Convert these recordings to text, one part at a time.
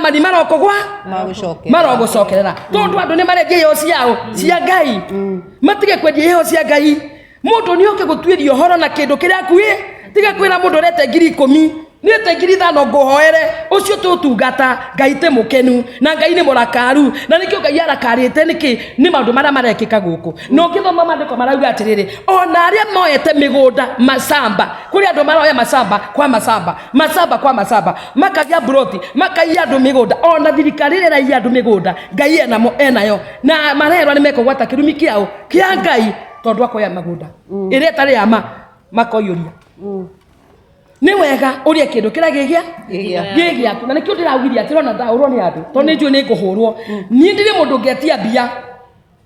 ma nĩ marokũgwa Magũcokerera. marogũcokerera tondũ andũ nĩ marendia iheo ciao cia ngai matige kwendia iheo cia ngai mũndũ nĩ oke gũtuĩria ũhoro na kĩndũ kĩrĩa akuĩ tiga kwĩra mũndũ ũrete ngiri ikũmi nĩte ngiri ithano ngũhoere ũcio tũtungata ngai tĩ mũkenu na ngai nĩ mũrakaru na nĩkĩo ngai arakarĩte nĩkĩ nĩ maũndũ marĩa marekĩka gũkũ na ũngĩthoma maandĩko marauga atĩrĩrĩ ona arĩa moete mĩgũnda macamba kũrĩ andũ maroya macamba kwa macamba macamba kwa macamba makagĩa mburoti makaiya andũ mĩgũnda ona thirikari ĩrĩa ĩraiya andũ mĩgũnda ngai enamo enayo na marerwa nĩ mekũgwata kĩrumi kĩao kĩa ngai tondũ akoya magũnda ĩrĩa ĩtarĩ ya ma makoiyũria nĩ wega ũrĩa kĩndũ kĩrĩa gĩgĩa Gĩgĩa. gĩgĩaku na nĩkĩo ndĩraugithia atĩ rona ndahũrwo nĩ andũ tondũ nĩ njũĩ nĩ ngũhũrwo niĩ ndirĩ mũndũ ngĩatia mbia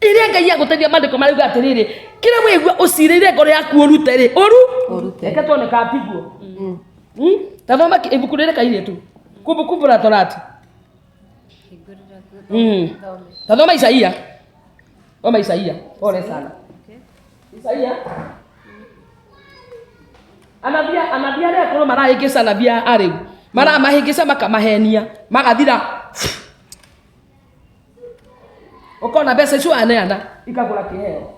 iria ngai agũteithia mandĩko marauga atĩrĩrĩ kĩrĩa wĩigua ũcirĩire ngoro yaku ũrute rĩ ũru Ũrute. reke tuone ka mbiguo Mm? ta thoma ki- ibuku rĩrĩ kairĩtu kumbukumbu la torati Mm. ta thoma isaia thoma isaia pole sana isaia anabia anabia arĩa akorwo marahĩngĩca anabia arĩu maramahĩngĩca makamahenia magathira ukona mbeca icio aneana ikagura kiheo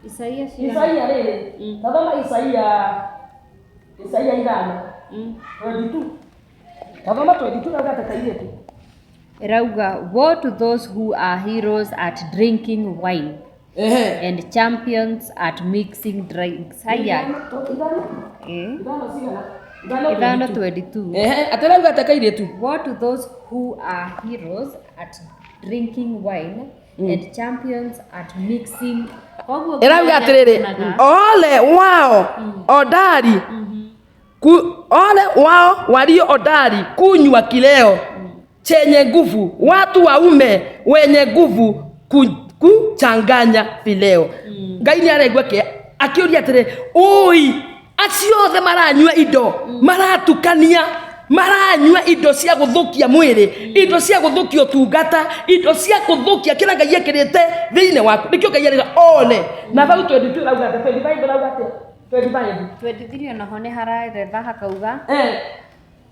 Isaia cigana? isaia riri Mm. tathoma isaia isaia ithano Mm. 22 tathoma 22 nauga atĩ kairĩtu Irauga, woe to those who are heroes at drinking wine Ehe. and champions at mixing drinks haya eh, ithano 22 Ehe, atarauga ataka iretu What to those who are heroes at drinking wine and champions at mixing Koguo ĩrauga atĩrĩrĩ kuonaga- ole wao odari ku, ole wao walio odari kunywa kileo chenye nguvu, watu waume wenye nguvu ku- kuchanganya vileo. Ngai nĩ araigua kä akĩũria atĩrĩ ũi acio othe maranyua indo maratukania maranyua indo cia gũthũkia mwĩrĩ indo cia gũthũkia ũtungata indo cia gũthũkia kĩrĩa ngai ekĩrĩte thĩinĩ waku nĩkĩo ngai arĩga ole na bau 22 rauga atĩa 25 rauga atĩa 25 twendithirio naho nĩ hararetha hakauga eh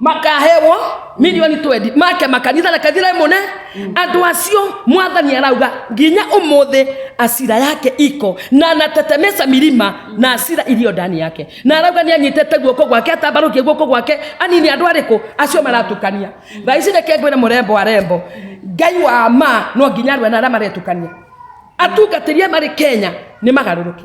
makaheo milioni 20 make makanitha na kathira imone andu acio mwathani arauga nginya umuthi asira yake iko na anatetemesa milima na asira iliyo ndani yake na arauga ni anyitete guoko gwake atambarukie guoko gwake anini andu ariku acio maratukania thaa ici reke ngwire murembo arembo ngai wa ma no nginya arue na aria maretukania atungatĩria marĩ kenya nĩ magaruruke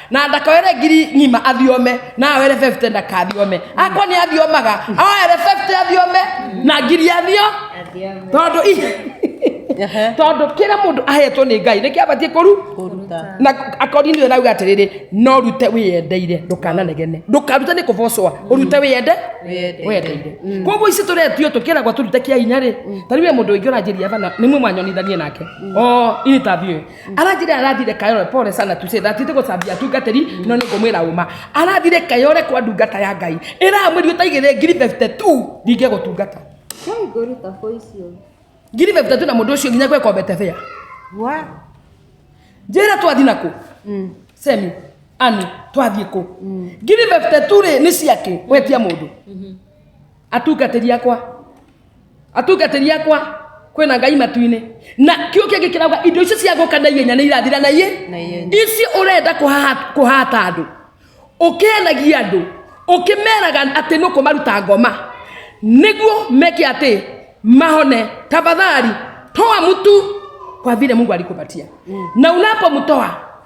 na ndakawere ngiri ng'ima athiome na awere 50 ndakathiome akwa nĩ athiomaga awere 50 athiome na ngiri athio tondũ i- Ehe. tondũ kĩrĩa mũndũ ahetwo nĩ ngai nĩkĩ abatiĩ kũru Kũruta. na akori nĩwe rauga atĩrĩrĩ no rute wĩyendeire ndũkananegene ndũkarute nĩ kũbocwa ũrute wĩyende Wĩyendeire. wendeire koguo ici tũretio tũkĩragwo tũrute kĩa hinya rĩ ta rĩu we mũndũ ũingĩ ũranjĩria bana nĩ mwe mwanyonithanie nake o interview arathire arathire kayore pole sana tuse thatite gũcambia atungatĩri no nĩ ngũmwĩra ũma arathire kayore kwa ndungata ya ngai ĩra mwĩri ũtaigĩrĩ ngiri 52 ndingĩ gũtungata Kai ngũruta voice ũyũ. ngiri 52 na mũndũ ũcio nginya gweka obetebea Wa. njĩra twathi nakũ Mm. semi ani twathiĩ kũ ngiri 52 rĩ nĩ ciake gwetia mũndũ atungatĩri akwa atungatĩri akwa kwĩna ngai matu-inĩ na kĩo kĩngĩ kĩrauga indo icio cia gũka na ihenya nĩ irathira na iĩ Na ihenya. ici ũrenda kũhaha- kũhata andũ ũkĩanagia andũ ũkĩmeraga atĩ nĩ kũmaruta ngoma nĩguo meke atĩ mahone tafadhali toa mtu kwa vile mungu alikupatia na unapomtoa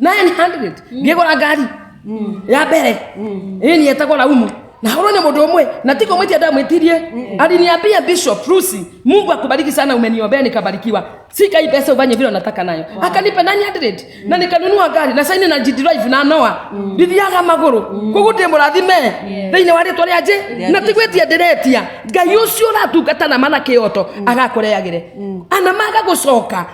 900 ngĩgũra ngari ya mbere ĩĩ nĩ etagwo laumu na horo nĩ mũndũ ũmwe na tiko mwĩtia ndamwĩtirie aliniambia bishop rusi mungu akubariki sana umeniombea nikabarikiwa sika hii pesa ufanye vile unataka nayo akanipa 900 na nikanunua gari na saini na jidrive na noa ndithiaga magũrũ koguo ndĩ mũrathime thĩinĩ wa rĩtwa rĩa njĩ na tigwĩtia ndĩretia ngai ũcio ũratungata na mana kĩoto agakũreagĩre ana maga gũcoka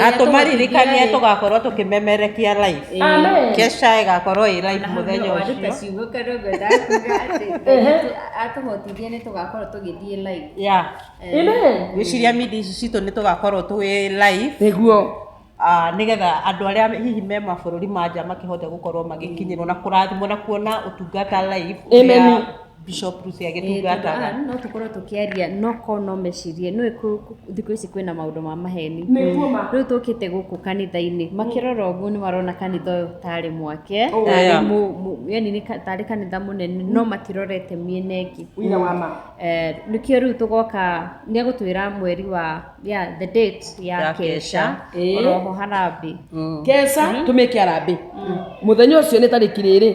na tũmaririkanie tũgakorwo tũkĩmemerekia live Amen. kesha ĩgakorwo ĩ live mũthenya ũcio atũhotithie nĩ tũgakorwo tũgĩthiĩ live ya Amen. gwĩciria mindi ici citũ nĩ tũgakorwo twĩ live nĩguo Ah, nĩgetha andũ arĩa hihi me mabũrũri ma nja makĩhote gũkorwo magĩkinyĩrwo na kũrathimwo na kuona ũtungata live Amen. ũrĩa Bishop Rusi agĩtungata Aa, no tũkorwo tũkĩaria no ko no mecirie nĩ kũ- kũ- thikũ ici kwĩna maũndũ ma maheni Nĩguo ma. rĩu tũkĩte gũkũ kanitha-inĩ makĩrora ũguo nĩ marona kanitha ũyũ tarĩ mwake Oh, tarĩ yeah. mũ- mũ- yani nĩ ka- tarĩ kanitha mũnene no matirorete mĩena ĩngĩ Ũira wa ma. Eh, nĩkĩo rĩu tũgoka nĩ egũtwĩra mweri wa yeah, the date ya Ya kesha Kesha. Ĩĩ. oroho harambĩ Kesa tũmĩke arambĩ mũthenya ũcio nĩ tarĩki rĩrĩ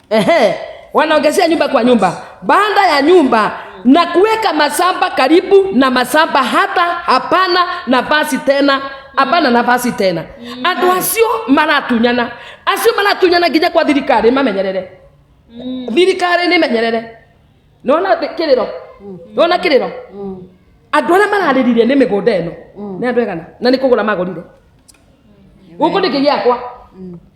Ehe, wanaongezea nyumba kwa nyumba, baada ya nyumba na kuweka masamba karibu na masamba, hata hapana nafasi tena, hapana nafasi tena. Andũ acio maratunyana, acio maratunyana nginya kwa thirikari mamenyerere, thirikari nĩ menyerere. Nona kĩrĩro, nona kĩrĩro, andũ arĩa mararĩrire nĩ mĩgũnda ĩno nĩ andũ aigana, na nĩ kũgũra magũrire gũkũ nĩ kĩgĩakwa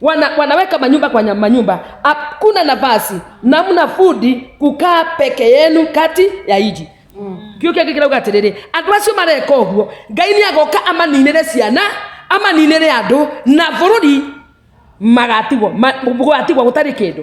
wana, wanaweka manyumba kwa nya- manyumba, hakuna nafasi, namna fudi kukaa peke yenu kati ya iji kio kĩngĩ kĩrauga atĩrĩrĩ andũ acio mareka ũguo ngai nĩ agoka amaninĩre ciana amaninĩre andũ na bũrũri magatigwo ma- gũgatigwo gũtarĩ kĩndũ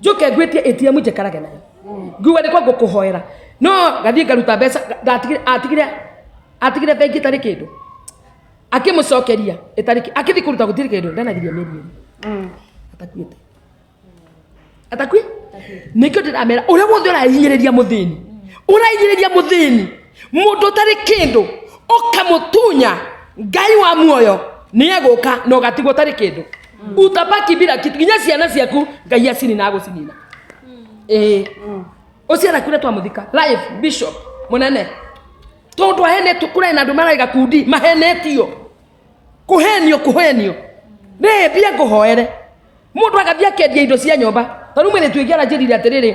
njuke ngwitie atm njikarage nayo ngiuga nĩkwa ngũkũhoera no gathiĩ ngaruta mbeca ngatigire- atigire atigire bengi ĩtarĩ kĩndũ akĩmũcokeria ĩtarĩ kĩ- akĩthiĩ kũruta gũtirĩ kĩndũ ndanagiria mĩrioni atakuĩte atakui nĩkĩo ndĩramera ũrĩa wothe ũrahinyĩrĩria mũthĩni ũrahinyĩrĩria mũthĩni mundu utari kindu ukamutunya ngai wa muoyo ni eguka na ugatigwo utari kindu utabaki bila kitu nginya ciana ciaku ngai acinina agucinina ĩĩ ũcio arakuire twamuthika live bishop munene tondu ahenetio kũrarĩ na andũ mararĩ gakundi mahenetio kũhenio kũhenio rĩĩ mbia ngũhoere mũndũ agathiĩ akendia indo cia nyũmba tarĩu mwĩrĩtu ĩngĩ aranjĩrire atĩrĩrĩ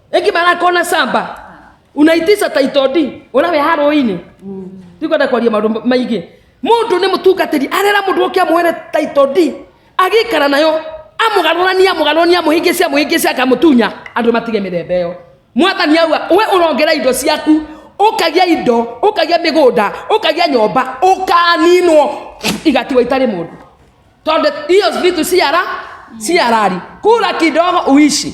ĩngĩ marakona samba unaitisa taitodi ũrĩa wĩ harũinĩ tikwenda kwaria maũndũ maingĩ mũndũ nĩ mũtungatĩri arera mũndũ ũke amũhere taitodi agĩikara nayo amũgarũrani amũgarũrani amũhĩngĩce amũhĩngĩce akamũtunya andũ matige mĩthemba ĩyo mwathani aua we ũrongera indo ciaku ũkagĩa indo ũkagĩa mĩgũnda ũkagĩa nyũmba ũkaninwo igatigwo itarĩ mũndũ tondũ hiyo vitu si hara- si halali kula kidogo uishi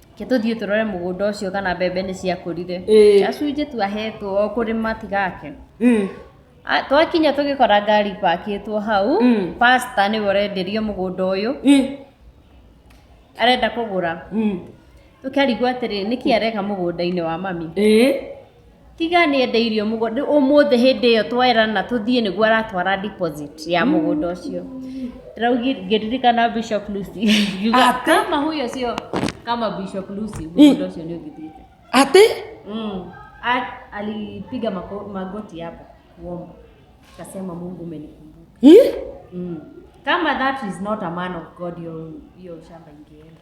Ke tũthiĩ tũrore mũgũnda ũcio kana mbembe nĩ ciakũrire Ĩĩ. gacunjĩ twahetwo o kũrĩma tigake Mm. A- twakinya tũgĩkora ngari pakĩtwo hau Mm. pasta nĩwe ũrenderio mũgũnda ũyũ Mm. arenda kũgũra Mm. tũkarigwo atĩrĩ nĩkĩ areka mũgũnda-inĩ wa mami Ĩĩ. Tiga nĩende irio mũgũnda ũmũthĩ hĩndĩ ĩyo twerana tũthiĩ nĩguo aratwara deposit ya mũgũnda ũcio raugi ngĩririkana Bishop Lucy yuga Atĩ? kama huyo sio kama Bishop Lucy mũgũnda ũcio nĩ ũgithiĩte Atĩ? mm. A- alipiga mako- magoti hapo kuomba akasema Mungu umenikumbuka Ih? mm. kama that is not a man of God hiyo hiyo shamba ingeenda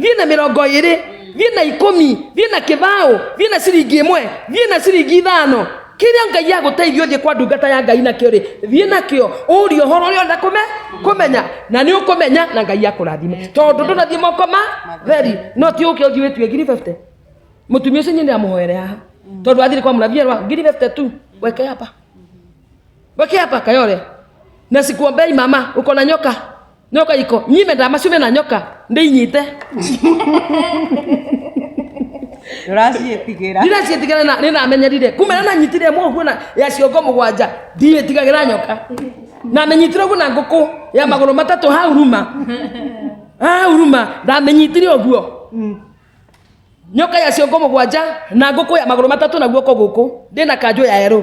thiĩ na mĩrongo ĩrĩ thiĩ na ikũmi thiĩ na kĩbaũ thiĩ na ciringi ĩmwe thiĩ na ciringi ithano kĩrĩa ngai agũteithia ũthiĩ kwa ndungata ya ngai nakĩo rĩ thiĩ nakĩo ũrie ũhoro ũrĩa ũrenda kũme kũmenya na nĩ ũkũmenya na ngai akũrathime tondũ ndũnathiĩ moko ma theri no ti ũke ũthiĩ wĩtue ngiri 50 mũtumia ũcio nyine amũhoere haha tondũ athire kwa mũnabii erwa ngiri 50 tu weke hapa weke hapa kayore na sikuombei mama uko na nyoka nyoka iko nyime ndamacune na nyoka ndĩinyite ndũraciĩtigĩra rira ciĩtigĩra na nĩnamenyerire kumbe na nanyitire ĩmwe ũguo na ya ciongo mũgwanja ndiĩtigagĩra nyoka namenyitire ũguo na ngũkũ ya magũrũ matatũ hau ruma hau ruma ndamenyitire ũguo nyoka ya ciongo mũgwanja na ngũkũ ya magũrũ matatũ na guoko gũkũ ndĩ na kanjũ ya erũ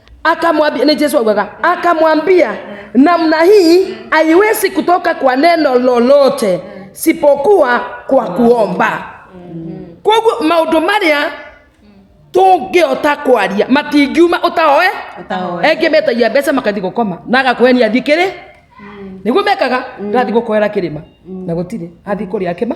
akamwambia ni Yesu augaga, akamwambia namna hii haiwezi kutoka kwa neno lolote sipokuwa kwa kuomba. Koguo maundu maria tungĩota kwaria matingiuma ũtaoe Ũtaoe. engĩ metagia mbeca makathi gũkoma na agakwenia thiĩ kĩrĩ nĩguo mekaga gathi gũkoera kĩrĩma na gũtirĩ athi kũrĩa kĩma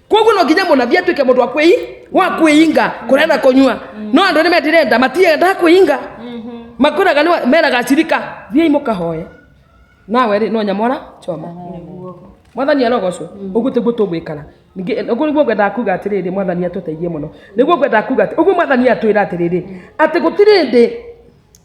koguo no nginya mũnabi atuĩke mũndũ wa kwĩi wa kwĩinga kũrĩa na kũnyua no andũ nĩ metirenda matiendaga kwĩinga makwĩraga nĩ- meraga acirika thiai mũkahoe nawe rĩ no nyamora choma mwathani arogocwo ũguo tĩguo tũgwĩkana ningĩ eh, ũguo nĩguo ngwendaga kuga atĩrĩrĩ mwathani atũteithie mũno nĩguo ngwendaga kuga atĩ- ũguo mwathani atwĩra atĩrĩrĩ atĩ gũtirĩ ndĩ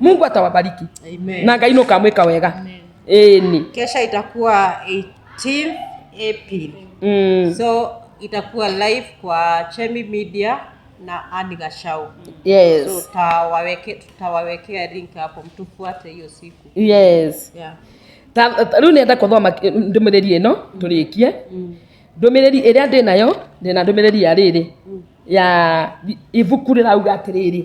mungu atawabariki Amen. na ngai nukamwika wega Amen. ĩni kesha itakuwa 18 april mm. so itakuwa live kwa chemi media na ani gashau so yes tutawaweke- tutawawekea link hapo mtufuate hiyo siku yes yeah. Ta- ta- rĩu nenda kũthoma ki- ndũmĩrĩri ĩno tũrĩkie ndũmĩrĩri ĩrĩa ndĩ nayo ndĩna ndũmĩrĩri ya rĩrĩ ya ibuku rĩrauga atĩrĩrĩ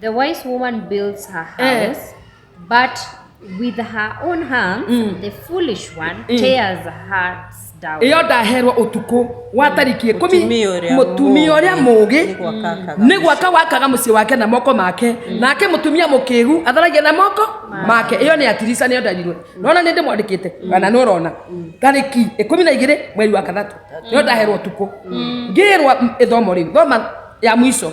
the wise woman builds her Eh. house but with her own hands the foolish one tears her hearts down ĩyo ndaherwo ũtukũ wa tariki ikũmi Mũtumia ũrĩa mũtumia ũrĩa mũũgĩ mũũgĩ nĩ gwaka akaga nĩ gwaka wakaga mũciĩ wake na moko make nake mũtumia mũkĩgu atharagia na moko make ĩyo nĩ atirica nĩyo ndarirwe nona nĩ ndĩmwandĩkĩte kana nĩ ũrona tarĩki ikũmi na igĩrĩ mweri wa kathatũ nĩyo ndaherwo ũtukũ ngĩrwa m- ĩthomo rĩu thoma ya mũico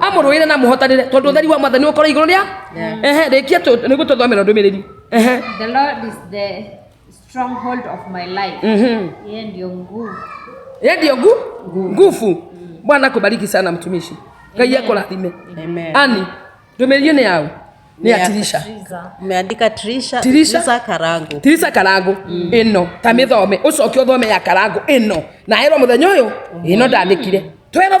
amũrũire na mũhotanire tondũ ũtheri wa mwathani ũkorwo igũrũ rĩa ehe rĩkia nĩguo tũthomera ndũmĩrĩri ehe The Lord is the stronghold of my life. Mhm. Yeye ndio nguvu. ye ndio ngu nguvu bwana akubariki sana mtumishi ngai akũrathime Amen. ani ndũmĩrĩri nĩ yaũ nĩ ya tirisha Umeandika Trisha, Trisha? Trisha Karangu. tirisa karangu ĩno ta mĩthome ũcoke ũthome ya karangu ĩno na erwo mũthenya ũyũ ĩno ndandĩkire 12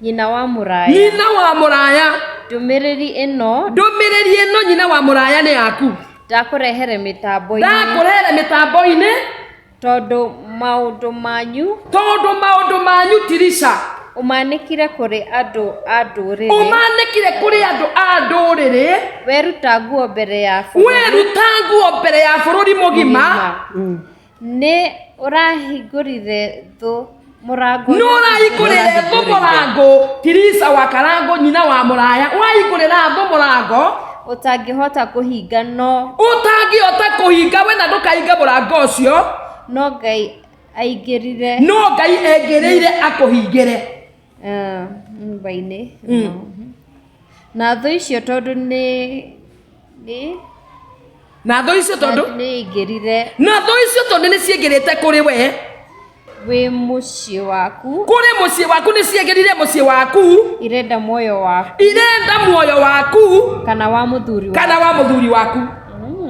Nyina wa mũraya. Nyina wa mũraya. Ndũmĩrĩri ĩno. Ndũmĩrĩri ĩno nyina wa mũraya nĩ yaku. Ndakũrehere mĩtambo-inĩ. Ndakũrehere mĩtambo-inĩ. Tondũ maũndũ manyu. Tondũ maũndũ manyu Tirisha. Ũmanĩkire kũrĩ andũ a ndũrĩrĩ. Ũmanĩkire kũrĩ andũ a ndũrĩrĩ. Weruta nguo mbere ya bũrũri. Weruta nguo mbere ya bũrũri mũgima. Nĩ ũrahingũrire thũ mũrango. Nũ ũrahingũrĩre thũ mũrango. Tirisa wa Karango nyina wa mũraya ũrahingũrĩra thũ mũrango. Ũtangĩhota kũhinga no. Ũtangĩhota kũhinga wena ndũkahinga mũrango ũcio. No Ngai aingĩrire. No Ngai aingĩrĩire akũhingĩre. Ah, nyũmba-inĩ na thũ icio tondũ nĩ nĩ na thũ icio tondũ nĩ ingĩrire na thũ icio tondũ nĩ ciĩngĩrĩte kũrĩ we wĩ mũciĩ waku kũrĩ mũciĩ waku nĩ ciĩngĩrire mũciĩ waku irenda muoyo waku irenda muoyo waku kana wa mũthuri waku kana wa mũthuri waku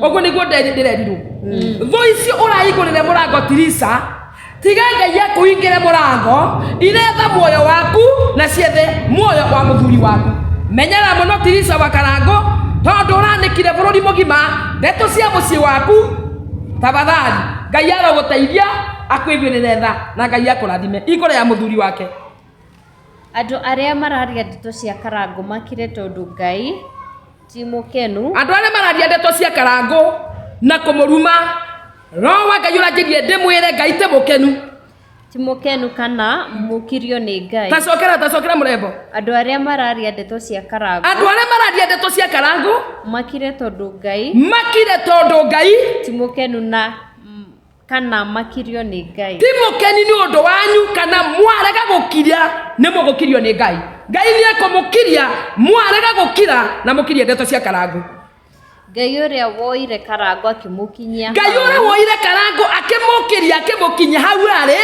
ũguo nĩguo ndĩrerirwo thũ icio ũrahingũrĩre mũrango tirisa tiga ngai akũhingĩre mũrango iretha muoyo waku na ciethe muoyo wa mũthuri waku menyera mũno tirisa wa karango tondũ ũranĩkire bũrũri mũgima ndeto cia mũciĩ waku tafadhali ngai arogũteithia akwĩgwĩrĩre tha na ngai akũrathime igũrũ ya mũthuri wake Andũ arĩa mararia ndeto cia karangũ makire tondũ Ngai ti mũkenu. Andũ arĩa mararia ndeto cia karangũ na kũmũruma, Roho wa Ngai ũranjĩrie ndĩmwĩre Ngai ti mũkenu. Ti mũkenu kana mũkirio nĩ Ngai. Tacokera tacokera mũrembo. Andũ arĩa mararia ndeto cia karangũ. Andũ arĩa mararia ndeto cia karangũ. Makire tondũ Ngai. Makire tondũ Ngai. Ti mũkenu na kana makirio nĩ ngai ti mũkeni nĩ ũndũ wanyu kana mwarega gũkiria nĩ mũgũkirio nĩ ngai ngai nĩ ekũmũkiria mwarega gũkira na mũkirie ndeto cia karangu ngai ũrĩa woire karango akĩmũkinyia ngai hau, ũrĩa woire karangu akĩmũkiria akĩmũkinyia hau arĩ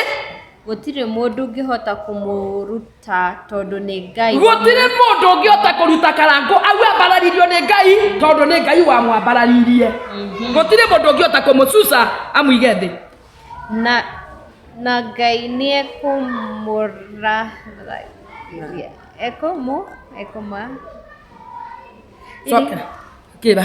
gũtirĩ mũndũ ũngĩhota kũmũru- ta tondũ nĩ ngai gũtirĩ mũndũ ũngĩ ota kũruta karango au ambararirio nĩ ngai tondũ nĩ ngai wamwambararirie Mhm. gũtirĩ mũndũ ũngĩ ota kũmũcuca amũige thĩ na na ngai nĩ ekũmũrahia ekũmũ ekũma Coka, kĩra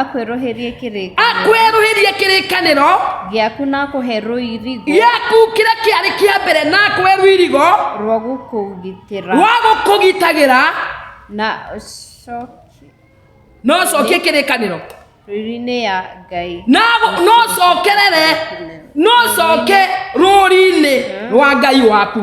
akwĩrũhĩrie kĩrĩkanĩro akwerũhĩrie kĩrĩkanĩro gĩaku na kũhe rũirigo gĩaku kĩrĩa kĩarĩ kĩa mbere na akwe rũirigo rwa gũkũgitĩra rwa gũkũgitagĩra na ũcokie no ũcokie kĩrĩkanĩro rũri-inĩ ya ngai na gũ- no ũcokerere no ũcoke rũri-inĩ rwa ngai waku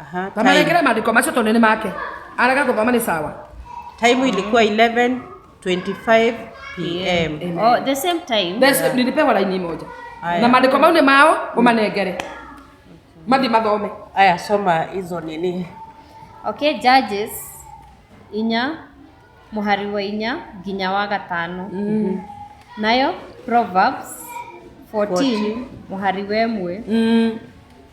Aha, time, Mamanegere maandiko macio tondũ nĩ make. Arega gũthoma nĩ sawa. time ilikuwa 11:25 pm. Oh, the same time. Thesi nilipewa laini moja. Aya. Na maandiko mau nĩ mao ũmanengere. Mathi mathome. Aya, soma hizo nini. Okay, Judges inya mũhari wa inya nginya wa gatano. Nayo Proverbs 14 mũhari wa ĩmwe Mm.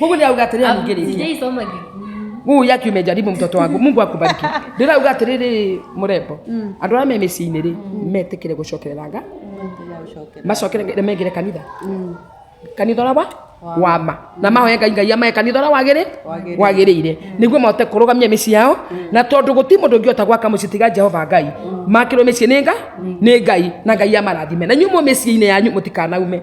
Mungu ni auga atiriri ningiriki. Sijaisoma Gikuyu. Mungu yake umejaribu mtoto wangu. Mungu akubariki. Ndira auga atiriri murembo. Andu ara me miciini ri metikire gucokerera nga. Macokere ngai mengire kanitha. Kanitha ora wa wama na mahoya ngai ngai amae kanitha ora wagire wagirire niguo mahote kurugamia micii yao na tondu guti mundu ngiota gwaka mucii tiga jehova ngai makirwo micii ni nga ni ngai na ngai amarathime na nyuo mu micii-ini yanyu mutikanaume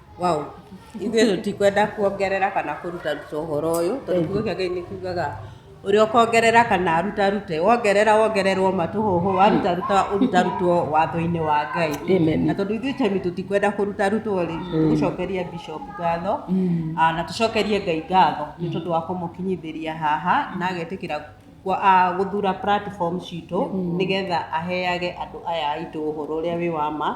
Wow. Ithuĩ tũtikwenda kuongerera kana kũrutaruta ũhoro ũyũ tondũ kiugo kĩa Ngai nĩ kiugaga ũrĩa ũkongerera kana arutarute wongerera wongererwo matũhũhũ warutaruta ũrutarutwo watho-inĩ wa Ngai Amen. na tondũ ithuĩ temi tũtikwenda kũrutarutwo rĩ tũcokerie bishop ngatho ah, na tũcokerie Ngai ngatho nĩ tondũ wa kũmũkinyithĩria haha na agetĩkĩra kwa- ah, gũthura platform citũ nĩgetha aheage andũ aya aitũ ũhoro ũrĩa wĩ wa ma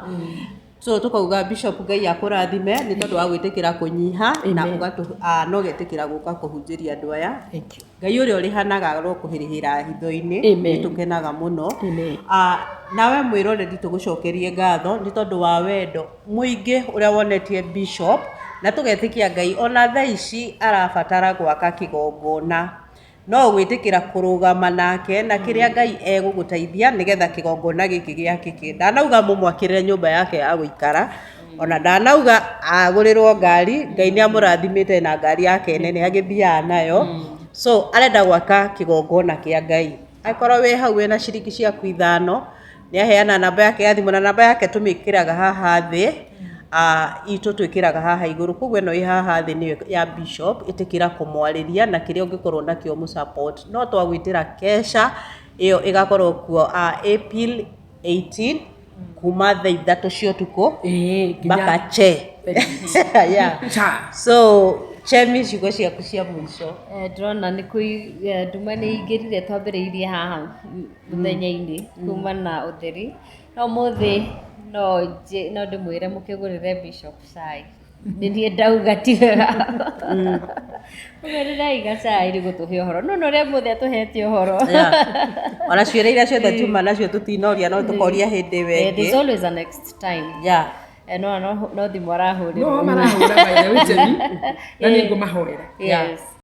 so tũkauga bishop ngai akũrathime nĩ tondũ wa gwĩtĩkĩra kũnyiha na Amen. ũgatũ- ah, na ũgetĩkĩra gũka kũhunjĩria andũ aya Thank you. ngai ũrĩa ũrĩhanaga ro kũhĩrĩhĩra hitho-inĩ Amen. nĩ tũkenaga mũno Amen. Ah, nawe mwĩroreri tũgũcokerie ngatho nĩ tondũ wa wendo mũingĩ ũrĩa wonetie bishop na tũgetĩkia ngai ona thaa ici arabatara gwaka kĩgongona no gwĩtĩkĩra kũrũgama nake na kĩrĩa ngai egũgũteithia nĩgetha kĩgongona gĩkĩ gĩakĩke ndanauga mũmwakĩrĩre nyũmba yake ya gũikara ona ndanauga agũrĩrwo ngari ngai nĩ amũrathimĩte na ngari yake nene agĩthiaga nayo so arenda gwaka kĩgongona kĩa ngai angĩkorwo wĩ hau wĩna ciringi ciaku ithano nĩ aheana namba yake ya thimũ na namba yake tũmĩkĩraga haha thĩ ah, itũ twĩkĩraga haha igũrũ koguo ĩno ĩ haha thĩ nĩyo ya bishop ĩtĩkĩra kũmwarĩria na kĩrĩa ũngĩkorwo nakĩo mũ support no twagwĩtĩra kesha ĩyo ĩgakorwo kuo ah, April 18 kuma thaa ithatũ cia ũtukũ Eh, nginya- mpaka che yeah. Cha. so chemi ciugo ciaku cia mũico Eh, ndĩrona nĩ kũi eh, nduma nĩ ingĩrire twambĩrĩirie haha mũthenya-inĩ kuma na ũtheri no mũthĩ no nje no ndĩmwĩre mũkĩgũrĩre bishop cai nĩ niĩ ndauga ti wega mũgũrĩrai gacai nĩ gũtũhe ũhoro no norĩa mũthĩ atũhete ũhoro ona ciũria iria ciothe tuma nacio tũtinoria no tũkoria hĩndĩ ĩwe Eh, there's ĩngĩ always a next time ya Eh, no no no thimũ arahũrĩrwo no marahũra by the way Jenny, na nĩ ngũmahorera yes